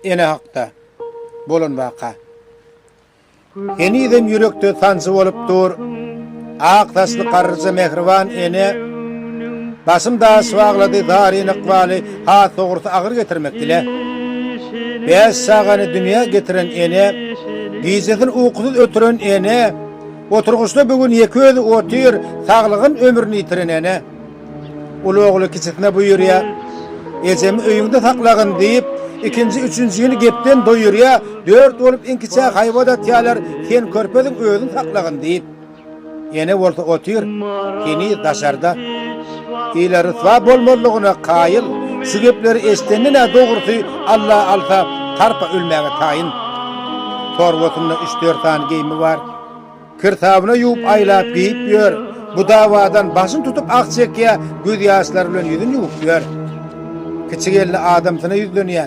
Ene hakda bolan waka. Henizem ýürekde sanjy bolup dur. Ak saçly garryja mähriban ene başym daş baglady, zaryn ykbaly has dogrusy agyr getirmek ile. Bäş çagany dünýä getiren ene, gijesini ukusyz ötüren ene, oturgyçda bu gün ýeke özi otyr, saglygyn ömrüni ýitiren ene. Uly ogly kiçisine buýurýar, Ejemi öýüňde saklagyn diýip, ikinji, üçünjini gepden doýurýar, dört bolup iňkiçä haýbat atýarlar, Sen körpeziň özüň saklagyn diýip. Ene bolsa otyr, heniz daşarda. Ile ryswa bolmazlygyna kaýyl. Şu gepleri eşidenden-ä dogrusy Alla alsa, tarpa ölmäge taýyn. Torbasynda üç-dört sany geýimi bar. Kirsabyna ýuwup aýlap geýip ýör, Bu dawadan başyn tutup ah çekýä, Göz ýaşlary bilen ýüzün ýuwup ýör. Kiçi gelni adamsyna ýüzlenýä.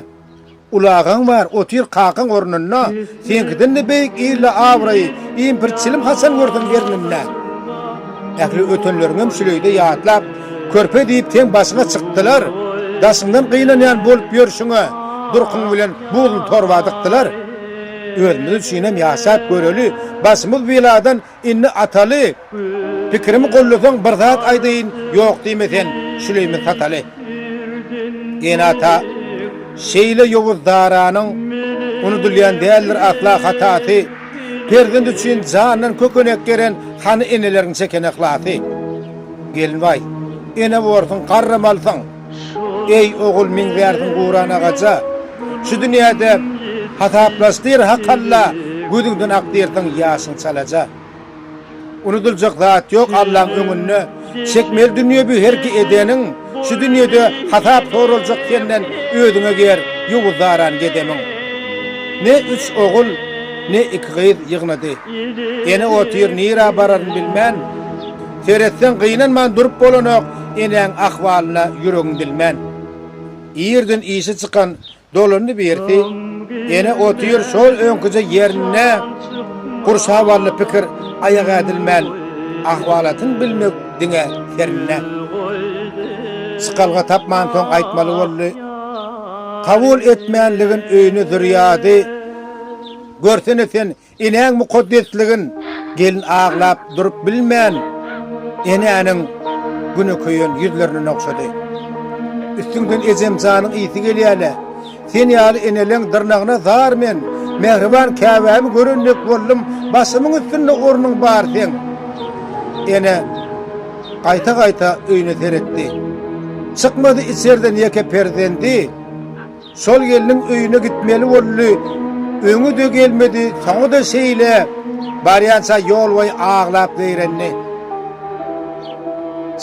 Ulagaň bar, otyr kakaň ornunda, Seňkiden-de beýik il-le abraýy, Impir çilim haçan görseň erňinde. Ähli ötenleriňem şüleýde ýatlap, Körpe diýip seň başyňa çykdylar, Daşyňdan gynanýan bolup ýörşüňe, Durkuň bilen buzly torba dykdylar. Özümiz üçinem ýaşap göreli, başymyz beladan indi ataly! Pikirimi gollasaň bir zat aýdaýyn, ýok diýme sen, Süleýman Sataly! Enata şeýle ýowuz daranyň unudylýan däldir asla hatasy, Perzent üçin jandan kökenek geren hany eneleriň çeken yhlasy? Gelin baý, ene borsuň, garramalysyň! Eý, ogul, meň wärdim guran agaja, Şu dünýäde hasaplaş diýr Hak Alla, Gözüňden akdyrsyň ýaşyň çalaja. Unudyljak zat ýok Allaň öňünde, Çekmeli dünýe bu her ki edeniň, Şu dünýede hasap soraljak senden, Özüňe ger, ýowuz daran gedemiň. Ne üç ogul, ne iki gyz ýygnady. Ene otyr nirä bararyn bilmän, Seretseň gynanman durup bolanok enäň ahwalyna ýüregiň bilmän. Irden işi çykan dolandy birisi ene otyr şol öňküje ýerinde gurşap aldy pikir aýak ädilmän ahwalatyn bilmek diňe serinde. Çykalga tapman soň aýtmaly boldy kabul etmänligin öýüne zürýady görsene sen Enäň mukaddesligin gelin aglap durup bilmän, enäniň güne köýen ýüzlerini nogşady. Üstüňden ejem janyň ysy gelýä-le. Sen ýaly eneleň dyrnagyna zar men. Mähriban käbämi gören dek boldum, başymyň üstünde ornuň bar seň. Ene gaýta-gaýta öýüne seretdi. Çykmady içerden ýeke perzendi. Şol gelniň öýüne gitmeli boldy. Öňi-de gelmedi, soňy-da şeýle. Barýança ýolboýy aglap zeýrendi.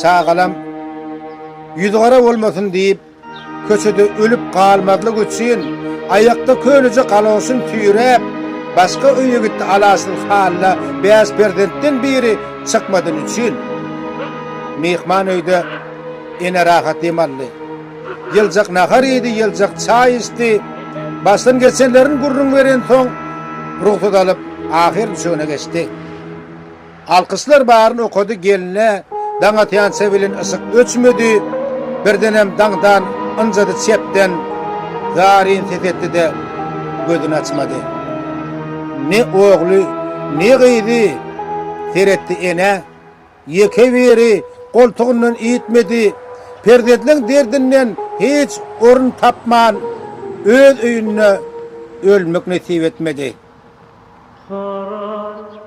Çagalam, ýüzügara bolmasyn diýip, köçede ölüp galmazlyk üçin, aýakda köneje galoşyn süýräp, başga öýe gitdi alaçsyz hally bäş perzentden biri çykmadyny üçin. Myhman öýde ene rahat dem aldy. Ýyljak nahar iýdi, ýyljak çaý içdi. Başdan geçenlerini gürrüň berensoň, rugsat alyp, ahyr düşegine geçdi. Alkyşlar baryny okady, gelne daň atýança bilen yşyk öçmedi. Birdenem daňdan ynjady çepden zaryn ses etdi-de, gözüni açmady. Ne ogly, ne gyzy. Seretdi, ene. Ýeke biri goltugyndan iýtmedi. Perzentleň derdinden hiç orun tapman, öz öýünde ölmek nesip etmedi.